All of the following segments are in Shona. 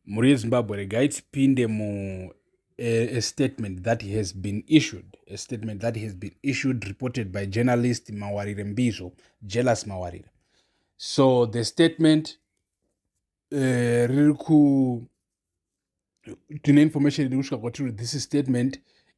Mhuri yeZimbabwe regai tipinde mu a, a statement that has been issued a statement that has been issued reported by journalist Mawarire Mbizvo Jealous Mawarire so the statement uh, riri ku tine information iri kusvika kwatiri this statement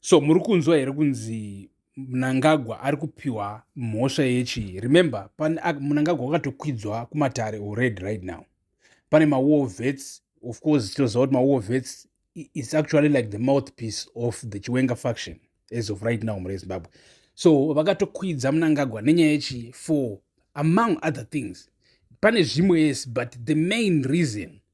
so muri kunzwa here kunzi mnangagwa ari kupiwa mhosva yechii remember mnangagwa wakatokwidzwa kumatare already right now pane mawar vets of course tinoziva kuti mawar vets is actually like the mouthpiece of the chiwenga faction as of right now mure zimbabwe so vakatokwidza mnangagwa nenyaya yechii for among other things pane zvimwe yes but the main reason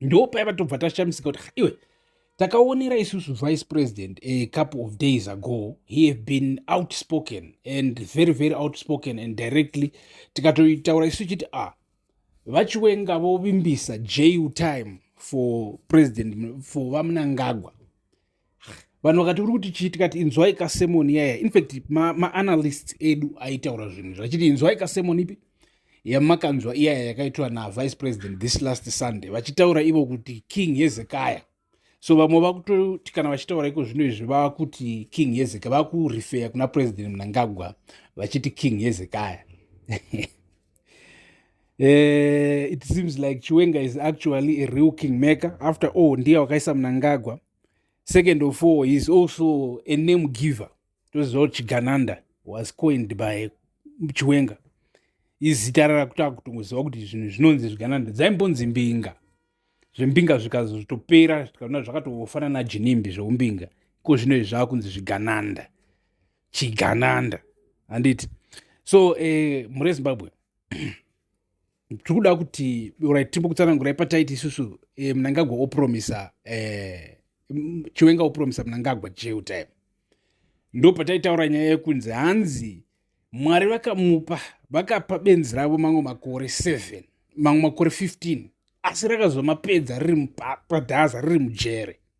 ndopaiva tobva tashamisika kuti iwe takaonera isusu vice president a couple of days ago he have been outspoken and very very outspoken and directly tikatotaura isu chiti a ah, vachiwenga vovimbisa ju time for president for vamunangagwa vanhu vakati uri kuti chii tikati inzwai kasemoni yaya infact maanalysts ma edu aitaura zvinhu zvachiti inzwai kasemoni ipi yamakanzwa iyaya yakaitwa navice president this last sunday vachitaura ivo kuti king hezekaya so vamwe vakutoti kana vachitaura iko zvino izvi vava kuti king hezekaya vava kurifeya kuna president mnangagwa vachiti king hezekaya Uh, it seems like chiwenga is actually a real king maker after all ndiye wakaisa munangagwa second of all he is also a name giver toziva kuti chigananda was coined by chiwenga izita rakutava kutongoziva kuti zvinhu zvinonzi zvigananda dzaimbonzi mbinga zvembinga zvikazotopera zvikaona zvakatofanana jinimbi zveumbinga ko zvino izvi zvava kunzi zvigananda chigananda handiti so eh, mhuri yezimbabwe tiri kuda kuti orit tiri kutsanangurai pataiti isusu eh, mnangagwa opromisa eh, chiwenga opromisa mnangagwa jail time ndo pataitaura nyaya yekunzi hanzi mwari vakamupa vakapa benzi ravo mamwe makore 7 mamwe makore 15 asi rakazomapedza riri padhaza riri mujere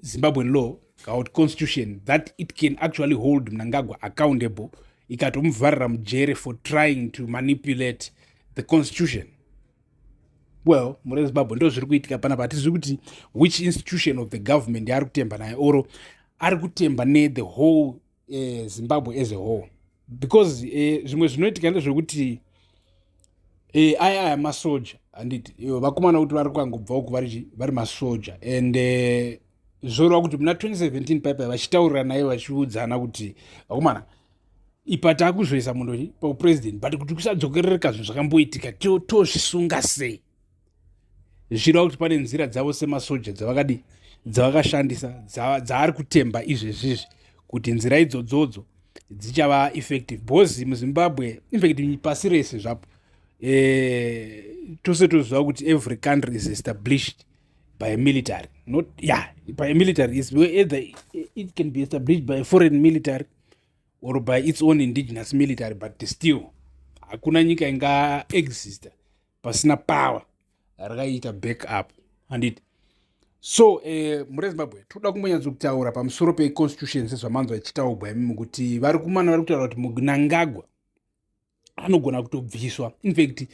zimbabwean law kana kuti constitution that it can actually hold mnangagwa accountable ikatomuvharira mujere for trying to manipulate the constitution well mune zimbabwe ndo zviri kuitika panapa hatizivi kuti which institution of the government yaari kutemba naye oro ari kutemba nethe whole eh, zimbabwe as a whole because eh, zvimwe eh, zvinoitika ndezvekuti eh, aya aya masoja handiti ivo vakomana kuti vari kukangobvawo ku vari masoja and eh, zvoreva kuti muna 2017 paipai vachitaurira naye vachiudzana kuti vakomana ipa takuzoisa munhu paupresident but kuti kusadzokerereka zvinhu zvakamboitika tozvisunga sei zvireva kuti pane nzira dzavo semasoja dzavakadii dzavakashandisa dzaari kutemba izvezvizvi kuti nzira idzodzodzo dzichava effective because muzimbabwe infact pasi rese zvapo eh, tose toziva kuti every country is established by a military not yeah by a military is either it can be established by a foreign military or by its own indigenous military but still hakuna nyika inga exista pasina power rakaiita back up handiti so eh, mure zimbabwe toda kumbonyatsokutaura pamusoro peconstitution sezvamanzwa ichitaugwa imimi kuti vari kumana vari kutaura kuti munangagwa anogona kutobviswa infact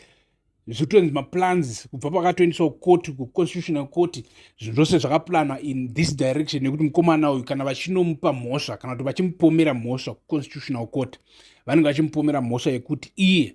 zvotonzi maplans kubva pakatoendeswa kukoti kuconstitutional court zvinhu zvose zvakaplanwa in this direction nekuti mukomana uyu kana vachinomupa mhosva kana kuti vachimupomera mhosva kuconstitutional court vanenge vachimupomera mhosva yekuti iye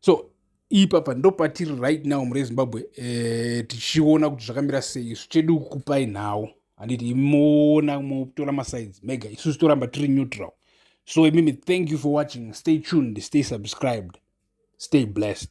so ipapa ndopatiri right now mure zimbabwe eh, tichiona kuti zvakamira sei isu chedu kukupai nhau handiti imoona motora masides mega isusu toramba tiri neutral so imimi thank you for watching stay tuned stay subscribed stay blessed